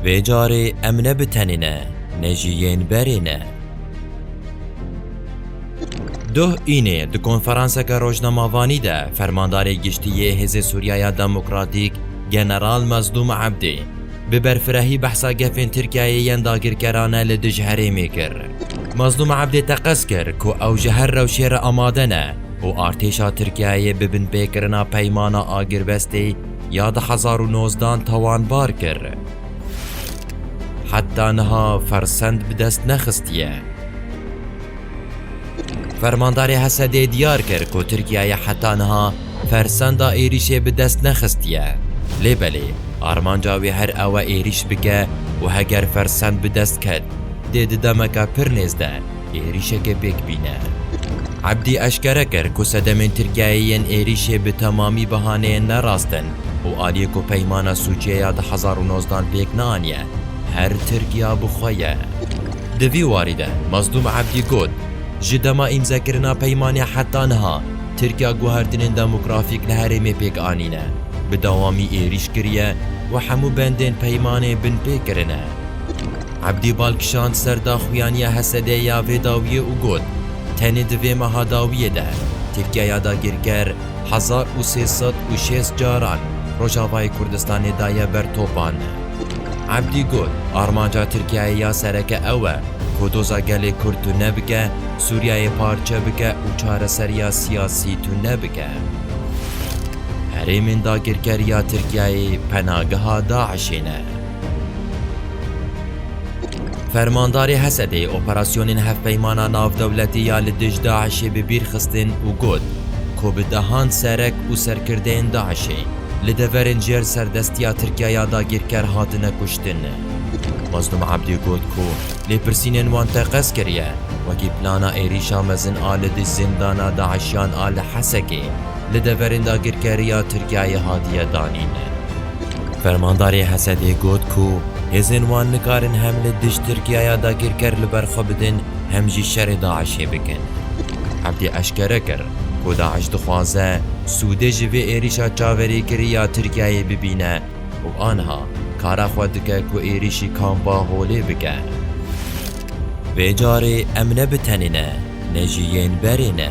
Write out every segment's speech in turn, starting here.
Vê carê em ne bi tenê ne, ne jî yên berê ne. Duh Înê di konferanseke rojnemavanî de Fermandarê Giştî yê Hêzê Sûriya ya Demokratîk General Mezlûm Ebdê bi berfirehî behsa gefên Tirkiyeyê yên dagirkerane li dij herêmê kir. Mezlûm Ebdê teqez kir ku ew ji her rewşê re amade ne û artêşa Tirkiyeyê bi binpêkirina peymana agirbestê ya di hezar û nozdan tawanbar kir. Heta niha fersend bi dest nexistiye. Fermandarê Hesedê diyar kir ku Tirkiyeyê heta niha fersenda êrîşê bi dest nexistiye. Lê belê armanca wê her ew e êrîş bike û heger fersend bi dest ket dê di demeke pir nêz de êrîşeke pêkbîn e. Ebdî eşkere kir ku sedemên Tirkiyeyê yên êrîşê bi temamî bihaneyên nerast in û aliyê ku peymana Sûçiyê ya di hezar û nozdan pêk neaniye, her Tirkiya bi xwe ye. Di vî warî de Mazdûm Ebdî got, Ji dema îmzekirina peymanê heta niha Tirkiya guhertinên demografîk li herêmê pêk anîne, bi dewamî êrîş kiriye û hemû bendên peymanê binpê kirine. Ebdî bal kişand ser daxuyaniya Hesedê ya vê dawiyê û got, Tenê di vê meha dawiyê de Tirkiye ya dagirker hezar û sê sed û şêst caran Rojavayê Kurdistanê daye ber topan. Ebdî got, Armanca Tirkiyeyê ya sereke ew e ku doza gelê Kurd tune bike, Sûriyeyê parçe bike û çareseriya siyasî tune bike. Herêmên dagirker ya Tirkiyeyê penageha DAIŞ'ê ne. Fermandarê Hesedê operasyonên hevpeymana navdewletî ya li dij DAIŞ'ê bi bîr xistin û got ku bi dehan serek û serkirdeyên DAIŞ'ê li deverên jêr serdestiya Tirkiye ya dagîrker hatine kuştin. Mazlûm Ebdî got ku lêpirsînên wan teqez kiriye wekî plana êrîşa mezin a li dij zîndana DAIŞ'yan a li Hesekê li deverên dagîrkerî ya Tirkiyeyê hatiye danîn. Fermandarê Hesedê got ku hêzên wan nikarin hem li dij Tirkiyaya dagîrker li ber xwe bidin hem jî şerê DAIŞ'ê bikin. Ebdî eşkere kir ku DAIŞ dixwaze sûdê ji vê êrîşa çaverêkirî ya Tirkiyayê bibîne û aniha kara xwe dike ku êrîşî kampa Holê bike. Vê carê em ne bi tenê ne, ne jî yên berê ne.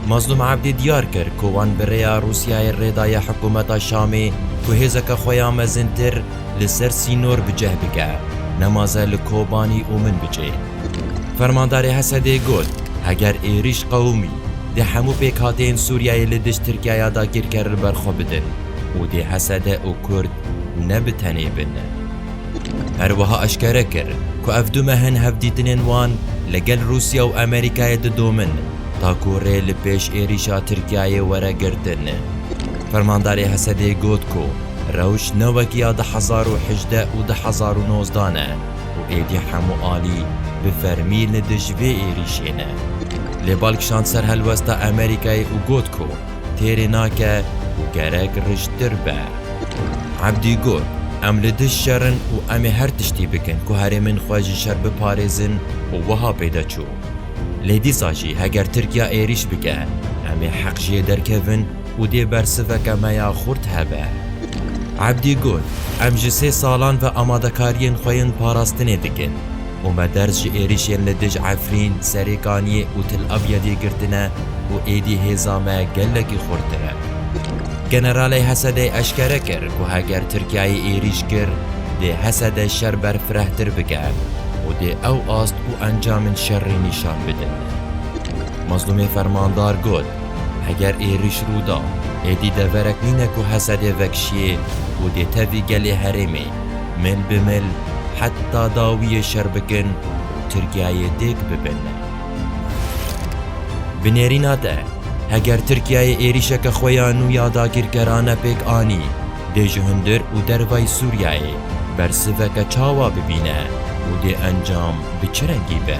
Mazlûm Ebdî diyar kir ku wan bi rêya Rûsyayê rê daye hikûmeta Şamê ku hêzeke xwe ya mezintir li ser sînor bi cih bike, nemaze li Kobanî û min biçê. Fermandarê Hesedê got, Heger êrîş qewimî, dê hemû pêkhateyên Sûriyeyê li dijî Tirkiyaya dagîrker li ber xwe bidin û dê Hesede û Kurd ne bi tenê bin. Her wiha eşkere kir ku ev du mehên hevdîtinên wan li gel Rûsya û Amerîkayê didomin ta ku rê li pêş êrîşa Tirkiyeyê were girtin. Fermandarê Hesedê got ku rewş ne wek ya du hezar û hejdeh û du hezar û nozdeh ne û êdî hemû alî bi fermî li dij vê êrîşê ne. Lê bal kişand ser helwesta Amerîkayê û got ku têrê nake û gerek rijtir be. Ebdî got, Em li dij şer in û em ê her tiştî bikin ku herêmên xwe ji şer biparêzin û wiha pê de çû, Lê dîsa jî heger Tirkiya êrîş bike, em ê heq ji yê derkevin û dê bersiveke me ya xurt hebe. Ebdî got, Em ji sê salan ve amadekariyên xwe yên parastinê dikin. Ometerz ji êrişên li dij Efrîn, Serêkaniyê û Til Abyedê girtine û êdî hêza me gelekî xurttir e. Generalê Hesedê eşkere kir ku heger Tirkiyeyê êrîş kir, dê Hesede şer berfirehtir bike û dê ew ast û encamên şerrî nîşan bidin. Mezlûmê Fermandar got, Heger êrîş rû da, êdî deverek nîne ku Hesedê vekişiyê û dê tevî gelê herêmê. Mil bi mil heta dawiyê şer bikin Tirkiyeyê dêk bibin. Bi nêrîna te, heger Tirkiyeyê êrîşeke xwe ya nû ya dagîrkerane pêk anî, dê ji hundir û dervayî Sûriyeyê bersiveke çawa bibîne û dê encam bi çi rengî be?